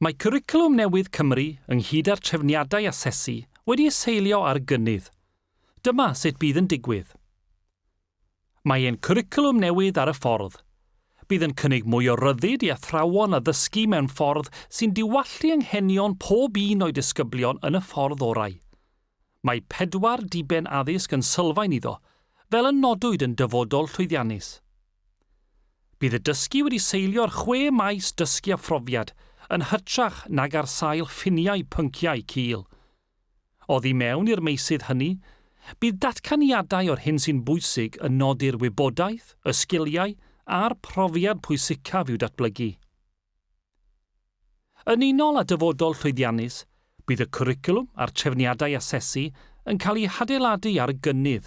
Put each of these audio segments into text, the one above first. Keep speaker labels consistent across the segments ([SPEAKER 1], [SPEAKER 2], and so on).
[SPEAKER 1] Mae Cwricwlwm Newydd Cymru, ynghyd â'r trefniadau asesu, wedi ei seilio ar y gynnydd. Dyma sut bydd yn digwydd. Mae ein cwricwlwm newydd ar y ffordd. Bydd yn cynnig mwy o ryddid i athrawon addysgu mewn ffordd sy'n diwallu anghenion pob un o'i disgyblion yn y ffordd orau. Mae pedwar diben addysg yn sylfaen iddo, fel y nodwyd yn Dyfodol Llwyddiannus. Bydd y dysgu wedi seilio'r chwe maes dysgu a phrofiad yn hytrach nag ar sail ffiniau pynciau cul. Oddi mewn i'r meysydd hynny, bydd datganiadau o'r hyn sy'n bwysig yn nodi'r wybodaeth, y sgiliau a'r profiad pwysicaf i'w datblygu. Yn unol â dyfodol llwyddiannus, bydd y cwricwlwm a'r trefniadau asesu yn cael eu hadeiladu ar y gynnydd,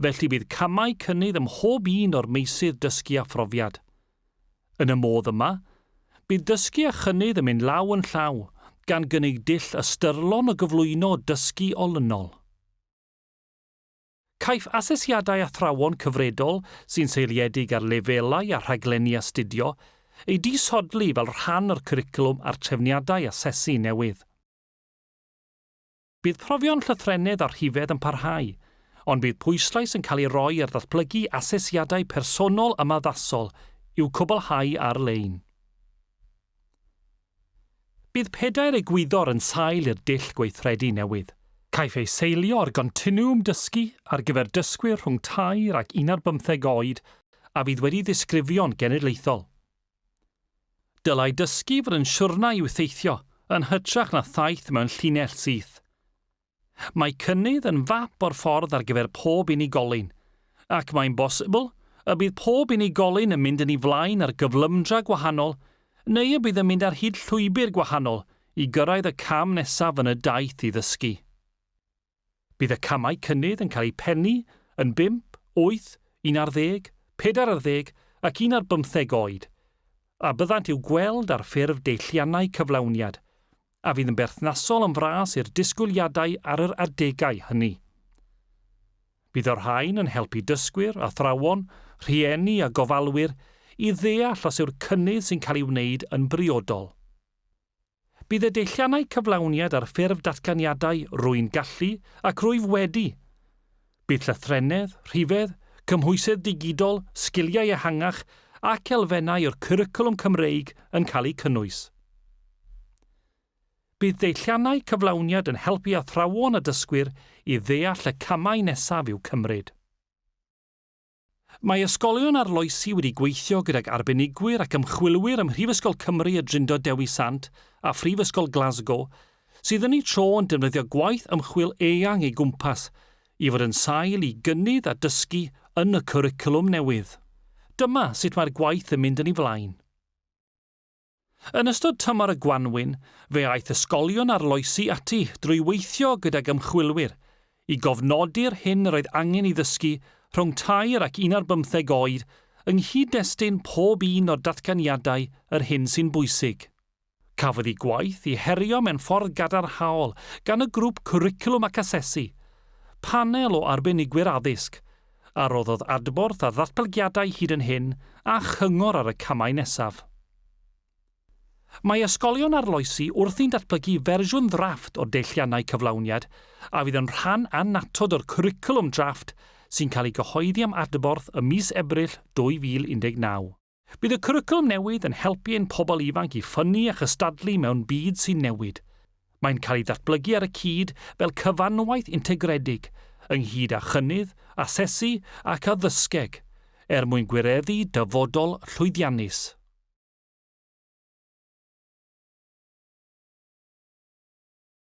[SPEAKER 1] felly bydd camau cynnydd ym mhob un o'r meysydd dysgu a phrofiad. Yn y modd yma, bydd dysgu a chynnydd yn mynd law yn llaw, gan gynnig dull ystyrlon o gyflwyno dysgu olynol. Caiff asesiadau athrawon cyfredol sy'n seiliedig ar lefelau a rhaglenni astudio eu disodli fel rhan o'r cwricwlwm a'r trefniadau asesu newydd. Bydd profion llythrennedd a rhifedd yn parhau, ond bydd pwyslais yn cael ei roi ar ddatblygu asesiadau personol ymaddasol i'w cwblhau ar-lein. Bydd pedair egwyddor yn sail i'r dull gweithredu newydd. Caiff ei seilio ar gontinwwm dysgu ar gyfer dysgwyr rhwng tair ac unarddeg bymtheg oed a fydd wedi ddisgrifio'n genedlaethol. Dylai dysgu fod yn siwrna i'w theithio yn hytrach na thaith mewn llinell syth. Mae cynnydd yn fap o'r ffordd ar gyfer pob unigolyn, ac mae'n bosibl y bydd pob unigolyn yn mynd yn ei flaen ar gyflymdra gwahanol neu y bydd yn mynd ar hyd llwybr gwahanol i gyrraedd y cam nesaf yn y daith i ddysgu. Bydd y camau cynnydd yn cael eu pennu yn bump, wyth, un ar ddeg, pedair ar ddeg ac un ar bymtheg oed, a byddant i'w gweld ar ffurf deilliannau cyflawniad. a fydd yn berthnasol yn fras i'r disgwyliadau ar yr adegau hynny. Bydd y rhain yn helpu dysgwyr, athrawon, rhieni a gofalwyr i ddeall os yw'r cynnydd sy'n cael ei wneud yn briodol. Bydd y deilliannau cyflawniad ar ffurf datganiadau rwy'n gallu ac rwyf wedi Bydd llythrennedd, rhifedd, cymhwysedd digidol, sgiliau ehangach ac elfennau o'r Cwricwlwm Cymreig yn cael eu cynnwys. Bydd deilliannau cyflawniad yn helpu athrawon a dysgwyr i ddeall y camau nesaf i'w cymryd. Mae ysgolion arloesi wedi gweithio gydag arbenigwyr ac ymchwilwyr ym Mhrifysgol Cymru y Drindod Dewi Sant a Phrifysgol Glasgow, sydd yn eu tro yn defnyddio gwaith ymchwil eang eu gwmpas i fod yn sail i gynnydd a dysgu yn y cwricwlwm newydd. Dyma sut mae'r gwaith yn mynd yn ei flaen. Yn ystod tymor y gwanwyn, fe aeth ysgolion arloesi ati drwy weithio gydag ymchwilwyr i gofnodi'r hyn yr oedd angen i ddysgu rhwng tair ac un ar bymtheg oed yng nghyd-destun pob un o'r datganiadau yr hyn sy'n bwysig. Cafodd y gwaith ei herio mewn ffordd gadarnhaol gan y grŵp Cwricwlwm ac Asesu, panel o arbenigwyr addysg, a roddodd adborth a ddatblygiadau hyd yn hyn a chyngor ar y camau nesaf. Mae ysgolion arloesi wrthi'n datblygu fersiwn ddrafft o deilliannau cyflawniad a fydd yn rhan annatod o'r cwricwlwm drafft sy'n cael ei gyhoeddi am adborth ym mis Ebrill 2019. Bydd y cwricwlwm newydd yn helpu ein pobl ifanc i ffynnu a chystadlu mewn byd sy'n newid. Mae'n cael ei ddatblygu ar y cyd fel cyfanwaith integredig, ynghyd â chynnydd, asesu ac addysgeg, er mwyn gwireddu dyfodol llwyddiannus.